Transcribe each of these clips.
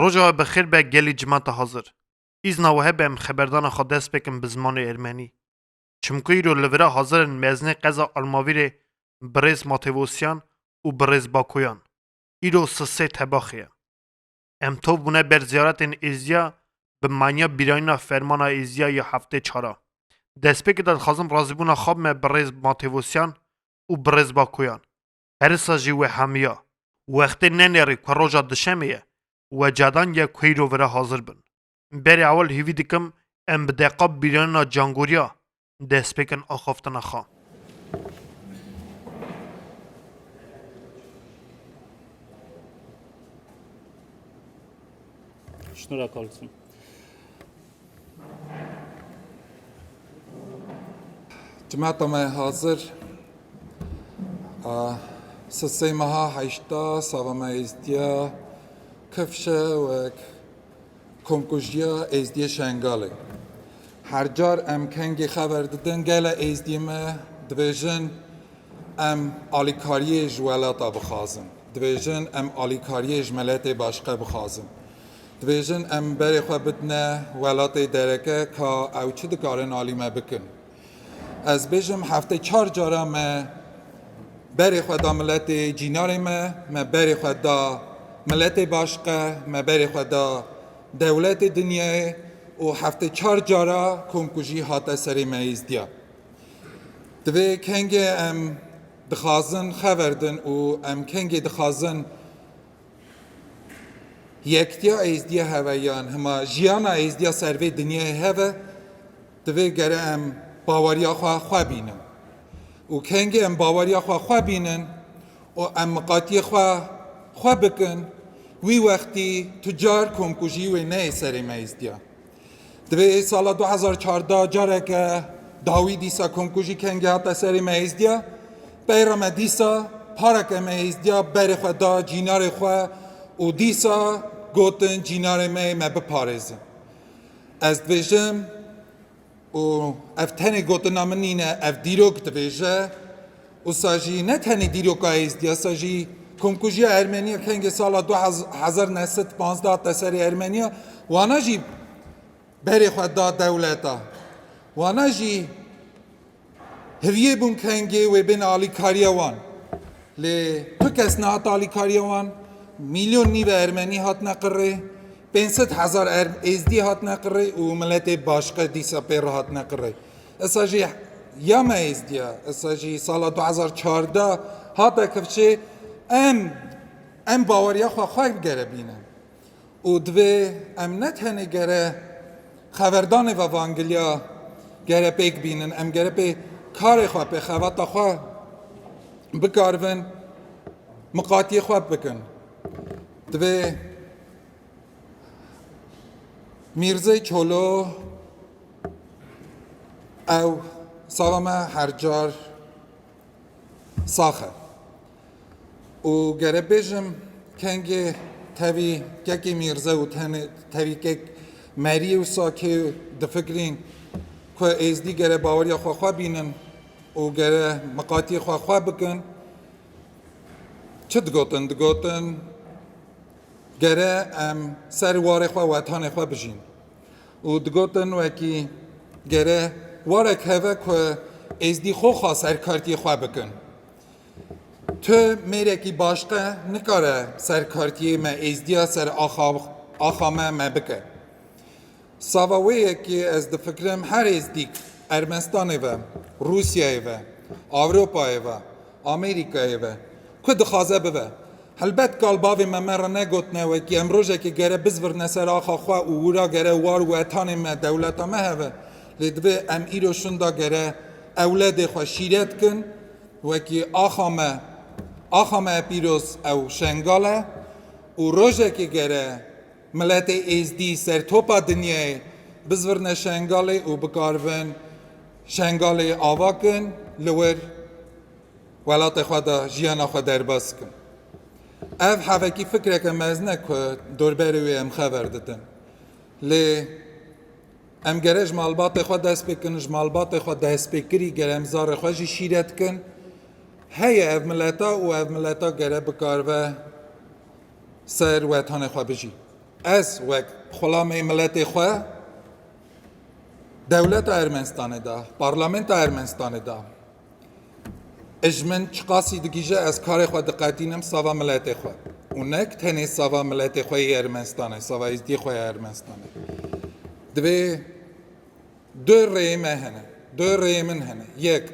Roja we bi xêr be gelê cima te hazir. Îzna we hebe em xeberdana xwe dest pê kim bi zimanê ermenî. Çimko îro li vir e hazir in mezinê qeza Almavîrê birêz Matevosyan û birêz Bakoyan. Îro si sê tebaxê ye. Em tov bûne ber ziyaretên êzdiya bi manya bîranîna fermana êzdiya ya heftê çar a. Destpêkê de dixwazim razîbûna xwe bime birêz Matevosyan û birêz Bakoyan. herisa jî wê hemiya. Wextê nenêrê ku roja duşemê ye we cadan ye ku îro vira hazir bin. Berê ewil hêvî dikim em bi deqa bîranîna cangoriya dest pêkin axaftina xwe. Şnura Carlson. Timeta me hazir sisey meha heşta sava me êzdiya kifşe wek komkujiya êzdiyê Şengalê. Her car em kengê xeber didin gele êzdiyê me dibêjin em alîkariyê ji welata bixwazin. Dibêjin em alîkariyê ji meletê başqe bixwazin. Dibêjin em berê xwe bidine welatê dereke ka ew çi dikarin alî me bikin. Ez bêjim heftê çar cara me berê xwe da miletê cînarê me, me berê xwe da miletê başqe, me berê xwe da dewletê dinyayê û heftê çar cara komkujî hate serê me îzdiya. Di vê kengê em dixazin xever din û em kengê dixazin Yektiya êzdiya heve yan hima jiyana êzdiya ser vê dinyayê heve divê gere em baweriya xwe xwe bînin û kengê em baweriya xwe xwe bînin û em miqatiyê xwe xwe bikin wî wextî tu car komkujî wê neyê serê me êzdiya. Divê sala du hezar çardeh careke dawî dîsa komkujî kengê hate serê me hêzdiya. Peyra me dîsa pareke me hêzdiya berê xwe da cînarê xwe û dîsa gotin cînarê me ê me biparêzin. Ez dibêjim û ev tenê gotina min nîne ev dîrok dibêje Wisa jî ne tenê dîroka êzdî ye, wisa jî komkujiya Ermenî ye kengê sala du hezar û neh sed û pazdeh hate serê Ermenîya, wana jî berê xwe da dewleta. Wana jî hiviyê bûn kengê wê bên alîkariya wan. Lê tu kes nehat alîkariya wan, mîlyon nîve Ermenî hatine qirrê, pênc sed hezar êzdî hatine qirrê û miletê başqe dîsa pê re hatine qirrê. Esa jî ya me êzdiya, esa jî sala du hezar çardeh hate kifçê em em baweriya xwe xwe bigere bînin. Û divê em ne tenê gere xeverdanê ve vangiliya gere pêk bînin, em gere pê karê xwe, pê xebata xwe bikarivin, miqatiyê xwe bikin. Divê Mîrzê Çolo ew sala me her car sax e û gere bêjim kengê tevî kekê mîrze û tenê tevî kek merî û sakê difikirîn ku êzdî gere baweriya xwe xwe bînin û gere miqatiyê xwe xwe bikin çi digotin digotin Gere em ser warê xwe wetanê xwe bijîn. Û digotin wekî gere warek heve ku êzdî xwe xwe serkartiyê xwe bikin. Tu mêrekî başqe nikare serkartiyê me êzdiya ser axa axa me me bike. Sava wê ye ki ez difikirim her êzdîk Ermenistanê ve, Rûsyayê ve, Ewropayê ve, Amerîkayê ve ku dixwaze bibe. Helbet kal bavê me me re negotine wekî em rojekê gere bizvirine ser axa xwe û wira gere war wetanê me, dewleta me hebe. Lê divê em îro şunda gere ewledê xwe şîre dikin wekî axa me, axa me pîroz ew Şengal e û rojekê gere Miletê Êzdî sertopa dinyayê bizvirne Şengalê û bikaribin Şengalê ava kin li wir welatê xwe de jiyana xwe derbas bikin. Ev hevekî fikreke mezin e ku dorberê wê em xever didin. Lê em gere ji malbatê xwe dest pê bikin, ji malbatê xwe destpêkirî gere em zarê xwe jî şîret bikin. Heye ev mileta û ev mileta gere bikaribe. ser wetanê xwe bijî. Ez wek xulamê miletê xwe dewleta Ermenistanê de, parlamenta Ermenistanê de ji min çiqasî digihîje ez karê xwe diqetînim sava miletê xwe û nek tenê sava miletê xwe yê Ermenistanê, sava êzdiyê xwe ya Ermenistanê. Divê du rêyê me hene, du rêyê min hene. Yek,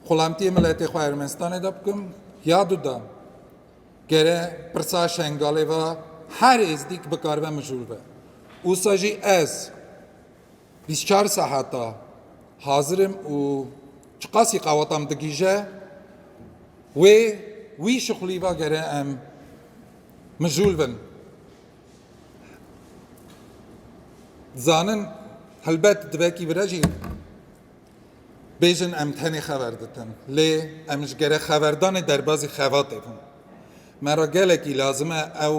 xulamtiyê miletê xwe Ermenistanê de bikim, ya du de Gere pirsa Şengalê va her êzdîk bikaribe mijûl be. Usa jî ez bîst çar seheta hazir im û çiqasî qaweta min digîje wê wî şixulî va gere em mijûl bin. Dizanin helbet divekî vire jî. Bêjin em tenê xeber ditin, lê em ji gerek xeberdanê derbazî xevatê bûn. Me re gelekî lazim e ew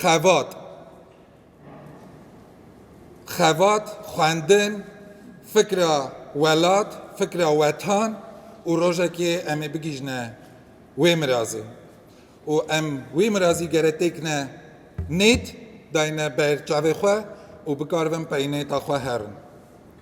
xevat, xevat, xwendin, fikra welat, fikra wetan û rojekê em ê bigihîjne wê mirazê û em wî mirazî gere têkine nêt dayne ber çavê xwe û bikaribin peynêta xwe herin.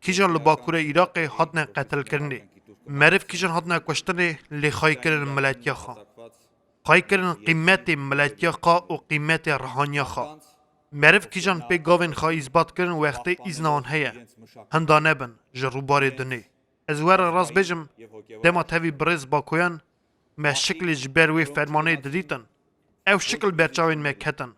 Kîjan li bakurê Îraqê hatine qetilkirinê? Meriv kîjan hatine kuştinê lê xayî kirin miletiya xwe? Xayî kirin qîmetê miletiya xwe û qîmetê rihaniya xwe? Meriv kîjan pê gavên xwe îsbat kirin wextê îzna wan heye? Hinda nebin ji rûbarê dunê. Ez were rast bêjim dema tevî birêz Bakoyan me şiklê ji ber wê fermanê didîtin, ew şikl ber çavên me ketin.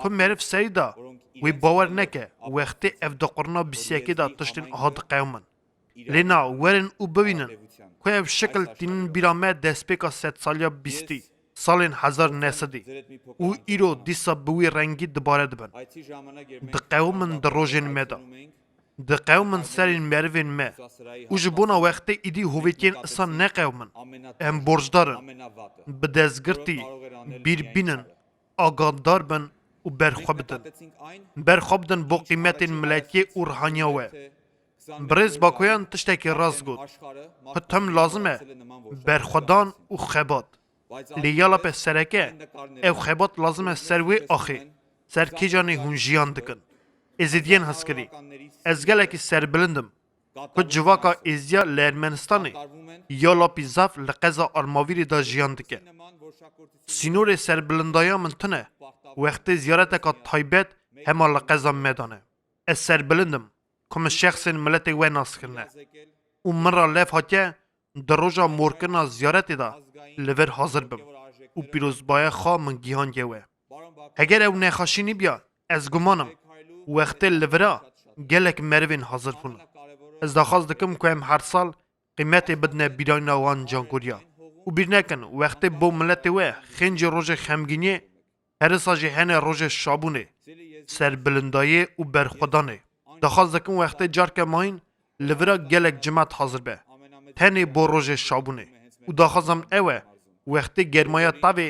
Ku meriv serî da, wê bawer neke wextê ev di qurna bîsyekê de tiştên uha diqewimin. Lê na, werin û bibînin ku ev şikil tînin bîra me destpêka sedsaliya bîstî, salên hezar nesedî û îro dîsa bi wî rengî dibare dibin. Diqewimin di rojên me de. Diqewimin serên merivên me û ji bona wextê îdî hovêtiyên isan neqewimin. Em borcdar in bi destgirtî bîr bînin agatdar bin û berxwe bidin. Berxwe bidin bo qîmetên milletiyê û rihaniya we. Birêz Bakoyan tiştekî rast got. Xwe tim lazim e berxwedan û xebat. Lê ya lape sereke ev xebat lazim e ser wê axê, ser kêcanê hûn jiyan dikin. Êzidiyên hezkirî, ez gelekî serbilind im. Ku civaka êziya li Ermenistanê ya Lapî Zaf li qeza Armavîrê de jiyan dike. Sînorê serbilindaya min tune wextê ziyareteka taybet hema li qeza Medan e. Ez serbilind im ku min şexsên miletê we nas kirine û min re lev hatiye di roja morkirina ziyaretê de li vir hazir bim û pîrozbaya xwe min gihandiye we. Heger ew nexaşî nîbya ez guman im wextê li vira gelek merivên hazir bûn. Ez daxwaz dikim ku em her sal qîmetê bidine bîrayna wan cankoriya û bîr nekin wextê bo miletê we xêncî rojê xemgîniyê herisa jî hene rojê şabûnê, serbilindayê û berxwedanê. Daxwaz dikim wextê carke mayîn li vira gelek cimat hazir be tenê bo rojê şabûnê û daxwazam ew e wextê germaya tavê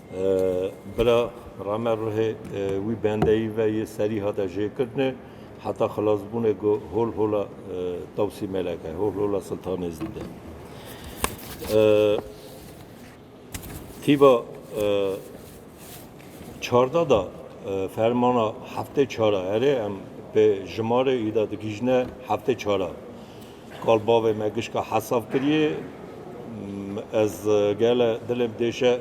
Bila Rame ruhê wî bendeyî ve yê serî hate jêkirine heta xilasbûnê ku hol hola Tewsî Melek e, hol hola Siltanê zî de. Tîba çarda da fermana heftê çara erê em pê jimarê îda digihîjine heftê çara. Kal bavê me gişka hesav kiriye. Ez gele dilê bidêşe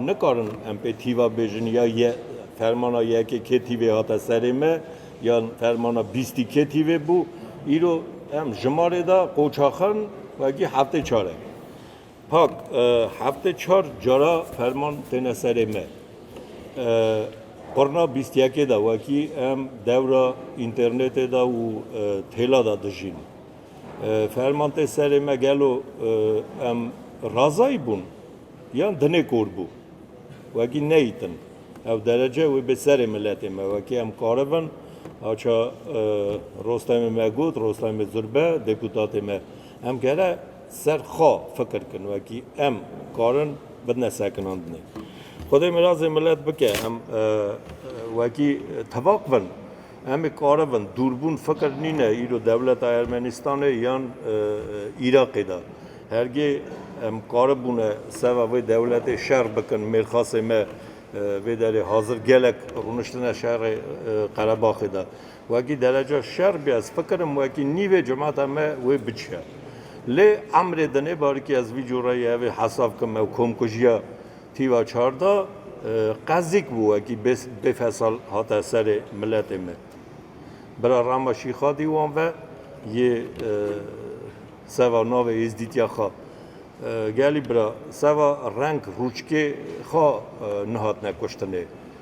nikarin em pê tîva bêjin ya ye fermana yekê kê tîvê hate serê me yan fermana bîstî kê tîvê bû. Îro em ji malê de qoçaxin wekî heftê çar e. Pak, Heftê çar cara ferman têne serê me. Qurna bîst yekê de wekî em dewra înternetê de û têla de dijîn. Ferman tê serê me gelo em razayî bûn yan dinê kor bû. Wekî neyîtin. Ew derece wê bê serê miletê me. Wekî em karibin aça Rostemê me got, Rostemê Zurbe, deputatê me. Em kere Ser xwe fikir kin wekî em karin bi ne sekinandinê. Xwedê mirazê milet bike em wekî tevaq bin. Em ê karibin dûrbûn fikir nîne îro dewleta Ermenistanê yan Îraqê de. Hergê em karibûne seva vê dewletê şer bikin mêrxasê me vê derê hazir gelek rûniştine şerê Qerebaxê de. Wekî dereca şer be ez fikirim wekî nîvê cemata me wê biçiya. Lê emrê dinê barikî ez vî cureyê hevê hesav kim ew komkujiya tîva çar da qezîk bû wekî bêfesal hate serê miletê me. Bira Rama Şîxadî wan ve yê seva navê êzdîtiya xwe gelî bira seva reng rûçkê xwe nehatine kuştinê.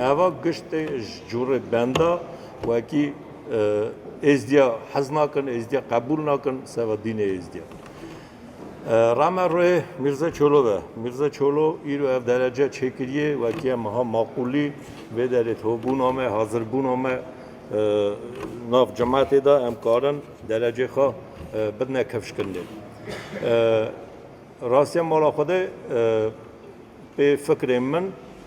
Eva gişt tê ji curê benda wekî êzdiya hez nakin, êzdiya qebûl nakin seba dînê êzdiya. Rame rê Mîrze Çolo ve. Mîrze Çolo îro ev derece çêkiriye wekî em ha maqûlî vê derê tobûna me, hazirbûna me nav cematê de em karin derecê xwe bidine kevşkirinê. Rastiya mala xwe de pê fikrên min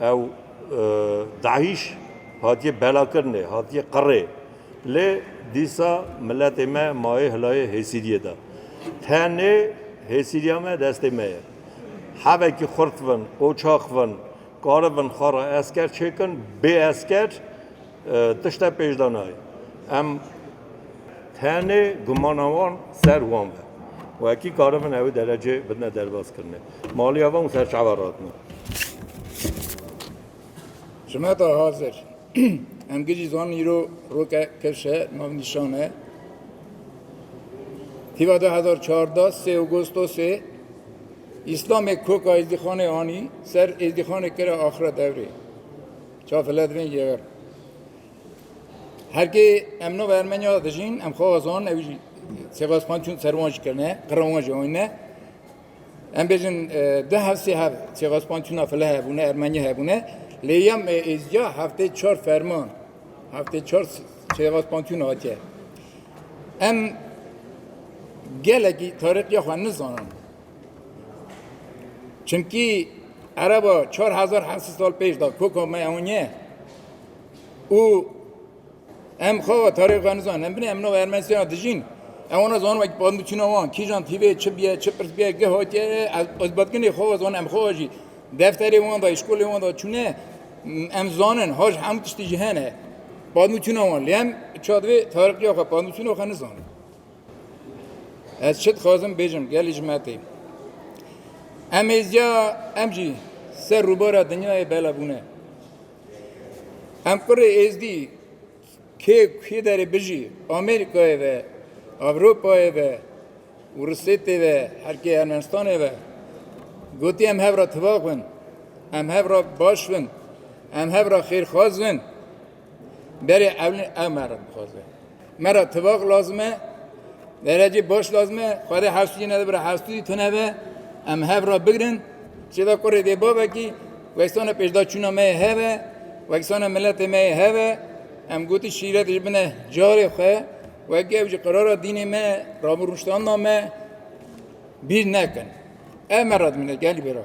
Ew DAIŞ hatiye belakirinê, hatiye qirê. Lê dîsa miletê me maye hilayê hêsîriyê de. Tenê hêsîriya me destê me ye. Hevekî xurt bin, qoçaq bin, karibin xwe re esker çêkin, bê esker, Tişte pêş de nayê. Em tenê gumana wan ser wan be. Wekî karibin ew derecê bidine derbazkirinê. Maliya van û serçava ratine. Hikmeta hazir. Em gijî zan îro roke kirş e, navnîşan e. Hîva 2014 sê Ağustosê İslamê koka Êzdîxanê anî ser Êzdîxanê kira axira devrê. Çav let vin yever. Her ki em no Ermenya dijin em xo zon ev jî sebas xan çun serwan jî kirine, qirwan jî oyne. Em bêjin di hevsê hev sebas xan çuna file hebûne, Ermenya hebûne. Lê yem êzca heftê çar ferman, heftê çar sebas xan çun hatiye. Em gelekî tarixiya xwe nizanin. Çimkî ereba çar hezar hesî sal pêş da koka me ewniye û em xava tarîx venizan em binê em nava Ermenistana dijîn em ona zan wek bandu çîna wan kîjan tîvê çi biye çi pirs biye ge hatiye ez batkinê xava zan em xava jî defterê wan da îşkolê wan da çûne em zanin haj hem tiştî jî hene bandu çîna wan lê em çadivê tarîxiya xwe bandu çîna xwe nizanin Ez çi dixwazim bêjim gelê ji me tê. Em êziya em jî ser rûbara dinyayê bela bûne. Em kurê êzdî kê kê derê bijî Amerîkayê ve, Ewropayê ve, Rusêtê ve, herkê Ermenistanê ve. Gotî em hev re tivak bin, em hev re baş bin, em hev re xêrxwaz bin, Berê ewlin ew me re dixwaze. Me re tivaq lazim e, derecê baş lazim e, xwedê hestûyê nedibire hestûyî tune be, em hev re bigirin, çêda kurê dê bavekî, wekisana pêşda çûna me yê hev e, wekisana miletê me yê hev e, em gotî şîret ji bine carê xwe, wekî ew jî qerara dînê me, rabûrûştana me bîr nekin. Ev me re dimîne gelî bêra.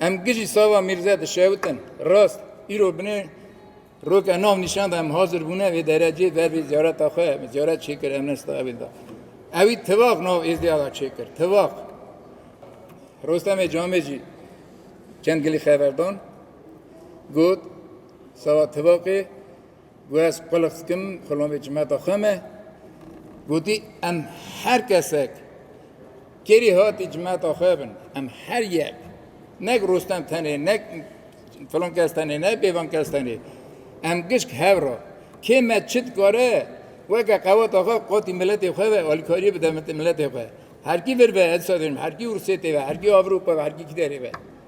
Em gijî sava Mîrze dişewitin. Rast, îro binê roke nav nîşan da em hazir bûne vê derecê ber vê ziyareta xwe ziyaret çêkir em nesta evê da. Ewî tivaq nav êzdêya da çêkir. Tivaq. Rostemê Camê jî çend gilî xeverdan got sava tivaqê Ku ez qulix dikim xulomê cimeta xwe me, gotî em her kesek kerî hatî cimeta xwe bin, em her yek nek Rostem tenê nek filan kes tenê ne bêvan kes tenê em gişk hev ra kê me çi dikare weke qeweta xwe qatî miletê xwe ve alîkariyê bide miletê xwe. Herkî vir be ez disa dêrim herkî Ûrsêtê ve herkî Avrûpa ve herkî kî derê ve.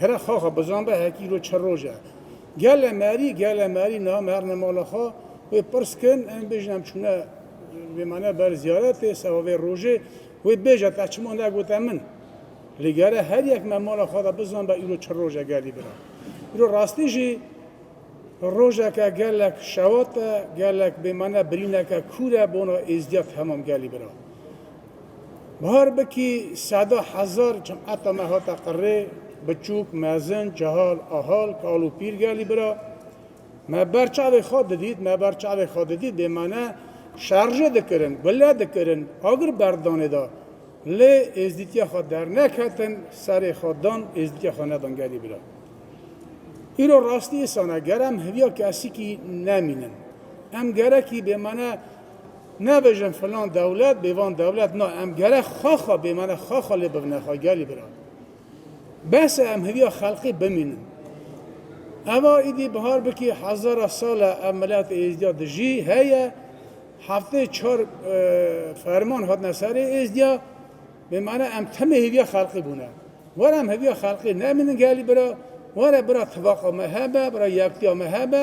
Here xaxa bizan be hekî îro çi roj e. Gele merî, gele merî niha merne mala xwe. Wê pirs kin, em bêjin em çûne bêmane ber ziyaretê, seba vê rojê. Wê bêje te çima negote min? Lê gere her yek me mala xwe de bizan be îro çi roj e gelî bira. Îro rastî jî rojeke gelek şewat e, gelek bêmane birîneke kûr e bona êzdîya temam gelî bira. Bihar bikî seda hezar cemata me hate qirrê, biçûk, mezin, cehal, ahal, kal û pîr gelî bira. Me ber çavê xwe didît, me ber çavê xwe didît bê me ne şerjê dikirin, gule dikirin, agir berdanê da. Lê êzdîtiya xwe derneketin, serê xwe dan, êzdîtiya xwe nedan gelî bira. Îro rastî îsan e, ger em hiviya kesikî nemînin, em gerekî bê me ne Nebêjin filan dewlet bê van dewlet na em gerek xwe xwe bê mane xwe xwe lê bivne xwe gelî bira. Bes e em hêviya xelqî bimînin. Eva îdî bihar bikî hezara sal e ev milet êzdîya dijî heye heftê çar ferman hatine serê êzdîya bê mane em timê hêviya xelqî bûne. Were em hêviya xelqî nemînin gelî bira were bira tivaqa me hebe bira yektiya me hebe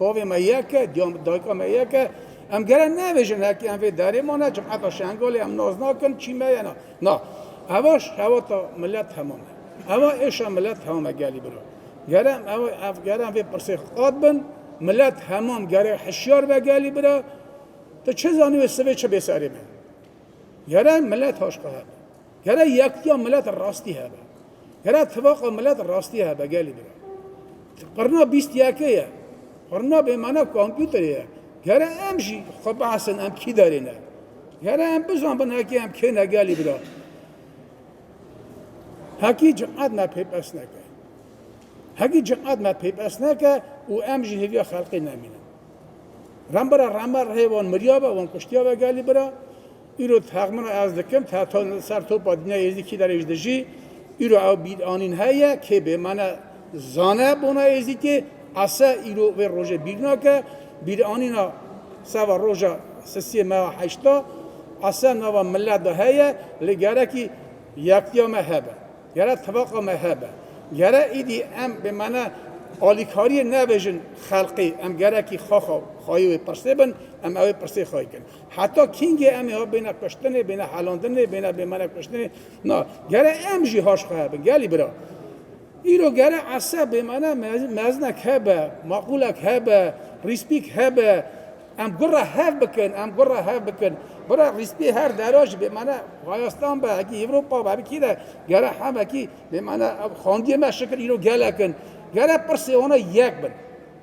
Bavê me yek e, dayika me yek e. Em gere nebêjin hekî em vê derê mane, cemeta Şengolê em nas nakin, çî me ye na. Na, eva şewata milet hema me. Eva êşa milet hema me gelî biro. Gere em ev, ev gere em vê pirsê xwe qat bin, milet hema me gere hişyar be gelî bira, tu çi zanî wê sivê çi bê serê me? Gere milet haşka hebe. Gere yektiya milet rastî hebe. Gere tivaqa milet rastî hebe gelî bira. Qirna bîst yekê ye. Qirna bêmane kompûterê ye. Gere em jî xwe behsin em kî derê ne. Gere em bizanbin hekî em kê ne gelî bira. Hekî ciqet me pêpes neke. Hekî ciqet me pêpes neke û em jî hêviya xelqê nemînin. Rambira rama rihê wan miriyabe, wan kuştiyabe gelî bira. Îro teq min ez dikim, te ser topa dinya Êzidî kî derê ji dijî. Îro ew bîranîn heye, kê bêmene zane bona Êzidî, ese îro vê rojê bîr nake. Bîranîna seba roja sisiyê me ya heşta, ese nava milet de heye, lê gerekî yektiya me hebe. Gere tevaqa me hebe. Gere îdî em bi mane alîkariyê nebêjin xelqî, em gerekî xaxa xayê wê pirsê bin, em ewê pirsê xayê kin. Heta kîngê em ê ha bêne kuştinê, bêne helandinê, bêne bi mane kuştinê. Na, gere em jî haş xwe hebin. Gelî bira. Îro gere ese bi mane meznek hebe, maqûlek hebe, rîspîk hebe. Em gur re hev bikin, em gur re hev bikin. Bira rîspî her dera ji bêmane Wayastan be, hekî Ewropa be, hekî re gere hem hekî bêmane ev xandiyê me şikir îro gelek in. Gere pirsê wan e yek bin.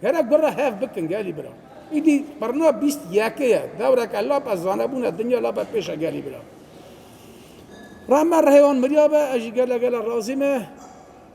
Gere gur re hev bikin gelî bira. Îdî birna bîst yekê ye. Dewreke lap e zanebûn e dinya lap e pêş e gelî bira. Rehme rihê wan mirya be ez jî gele gele razî me.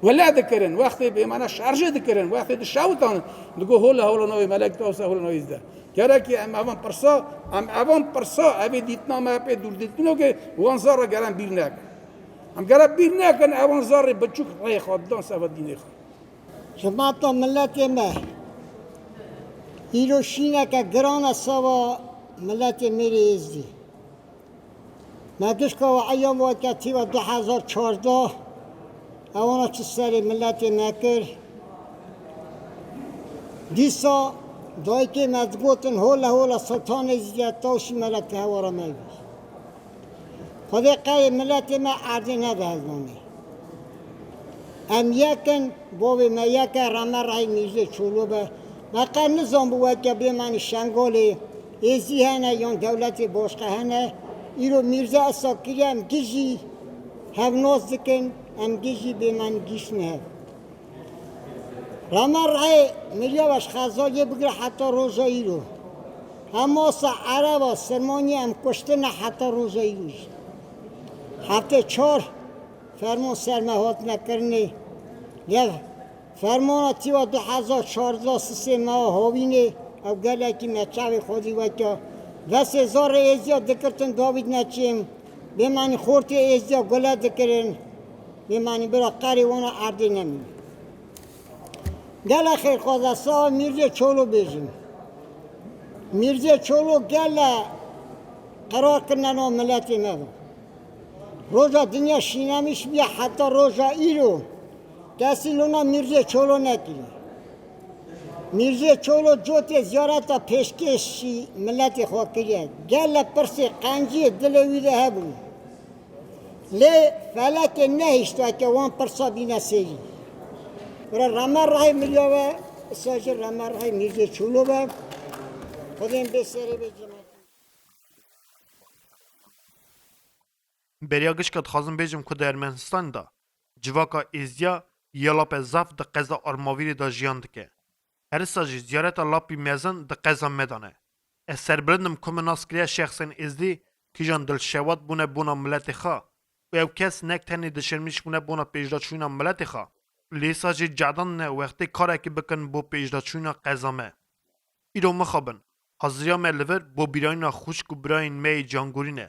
Wele dikirin, wextê bêmana şarjê dikirin, wextê di şawitan in. Digo hola hola navê Melek Dawsa hola navê Îzdeh. Carekê em evan pirsa, em evan pirsa evê dîtina me pê dûrdîtino ke wan zar re gere em bîr nekin. Em gere bîr nekin evan zarê biçûk reyê xwe didan seba dînê xwe. Xizmata miletê me îro şîneke giran e seba miletê mêrê Êzdî. Me dişka we eyam weke tîva du hezar û çardeh e wana çi serê miletê me kir. Dîsa dayikê me digotin hole hole Siltanê Zîya Tawşî mele ti hewara me bî. Xwedê qeyê miletê me erdê nede hezanê. Em yek in, bavê me yek e, reme rehî Mîrzê Çolo be. Me qet nizanbû weke bêmenî Şengalê Hêzî hene yan dewletê boşqe hene. Îro Mîrza Esad kiriye em gijî hevnos dikin, em gijî bê me nigîştin hev. Rama reyê Mirya Baş Xezal yê bigire heta roja îro. Hamasa, Ereba, Sirmanyê em kuştine heta roja îro jî. Heftê çar ferman ser me hatine kirinê. Lê ev Fermana Tîwa du hezar û çardeh sisê meya Hawînê ew gelekî me çavê xwedî weke vesê zarê êzdîya dikirtin Davîd Neçîm bêmanî xortê êzdîya gule dikirin bêmanî bira qerî wana erdê nemîne. Gele xêrxwaza sawa Mîrzê Çolo bêjin. Mîrzê Çolo gele qerar kirine no miletê me bi. Roja dinya şînemî şibiya heta roja îro. Kesî lona Mîrzê Çolo nekiriye. Mîrzê Çolo cotê ziyareta pêşkêşî miletê xwe kiriye. Gelle pirsê qenciyê dilê wî de hebûne. Lê felekê nehiştiye ke wan pirsa bîne sêrî. Bira rame rahê miriya ve, îsa jî rame rahê Mîrzê Çolo be. Xwedên bê serê bê cî. Beriya gişka dixwazim bêjim ku di Ermenîstanê de civaka Êzdiya ya Lape Zaf di qeza Armavîrê de jiyan dike. Herisa jî ziyareta Lapî Mezin di qeza me de ne. Ez serbilind im ku min nas kiriye şexsên Êzdî kîjan dilşewat bûne bona miletê xwe û ew kes nek tenê dişirmîş bûne bona pêşdaçûna miletê xwe lêsa jî cadan ne wextê karekî bikin bo pêşdaçûna qeza me. Îro mixabin, haziriya me li vir bo bîrayîna xwişk û birayên me yê cangorî ne.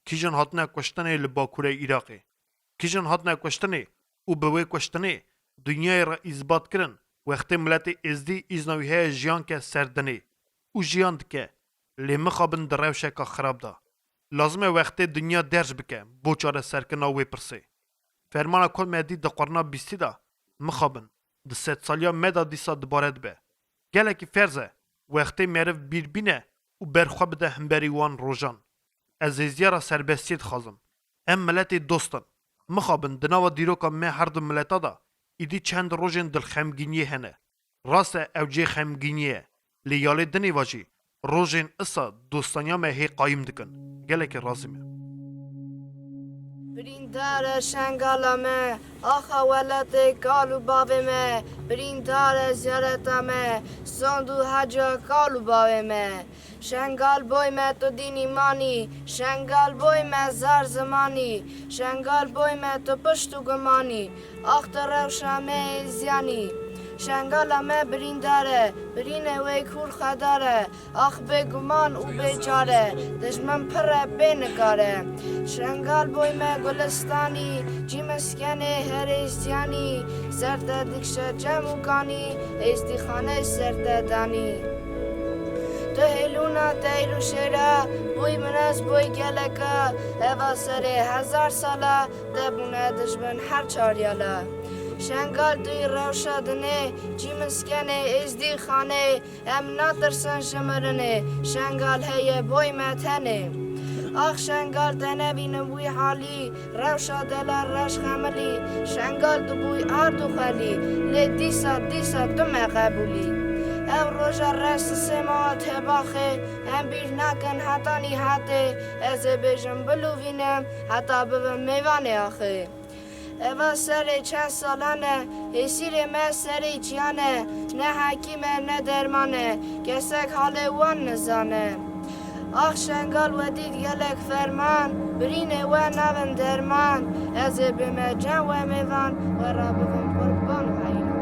Kîjan hatine kuştinê li Bakurê Îraqê? Kîjan hatine kuştinê û bi wê kuştinê dinyayê re îsbat kirin wextê miletê Êzdî îzna wî heye jiyan ke ser dinê û jiyan dike lê mixabin di rewşeka xirab de. Lazim e wextê dinya derc bike bo çareserkirina wê pirsê. Fermana ku me dît di qurna bîstî de, mixabin, di sedsaliya me de dîsa dibare dibe. Gelekî ferz e wextê meriv bîr bîne û ber xwe bide himberî wan rojan. Ez hêziya ra serbestiyê dixwazim. Em miletê dost in. Mixabin di nava dîroka me her du mileta de îdî çend rojên dilxemgîniyê hene. Rast e ew cihê xemgîniyê ye lê ya lê dinê ve jî rojên isa dostaniya me hê qayim dikin. Gelekî razî me. Birîndar e şengala me, axa welatê kal û bavê me, birîndar e ziyareta me, sond û heca kal û bavê me. Şengal boy me tu dîn îman î, şengal boy me zar ziman î, şengal boy me tu pişt û guman î. Ax te rewşa me ê ziyanî. Şengala me birîndar e, birînê wê kûr xwedar e. Ax bê guman û bê çar e, dijmin pirr e bê nikar e. Şengal boy me gulistanî, cî miskenê herê ziyanî. Ser te dikşe cem û kanî, êzdîxane ser te danî. Tu hêlûna teyr û şêra, boy min ez boy geleka, heva serê hezar sala. Te bûne dijmin her çar ya la. Şengal tu yî rewşa dinê, çî min skenê, êzdî xanê, em natirsin ji mirinê, Şengal heye boy me tenê. Ax Şengal te nebînim wî halî, rewşa delan reş xemilî, Şengal tu bûy ard û xelî, lê dîsa dîsa tu me qebûlî. Ev roja reş sisê ma hat hebaxê, em bîr nakin heta nîhatê, ez ê bêjim bilûvînim, Heta bibim mêvanê axirî. Eva serê çend salan e, hêsîrê me serî çiyan e, ne hekîm e ne derman e, kesek halê wan nizane. Ax Şengal we dît gelek ferman, birînê we nabin derman, ez ê bê me çend we mêvan, we ra bibim qurban û heyran.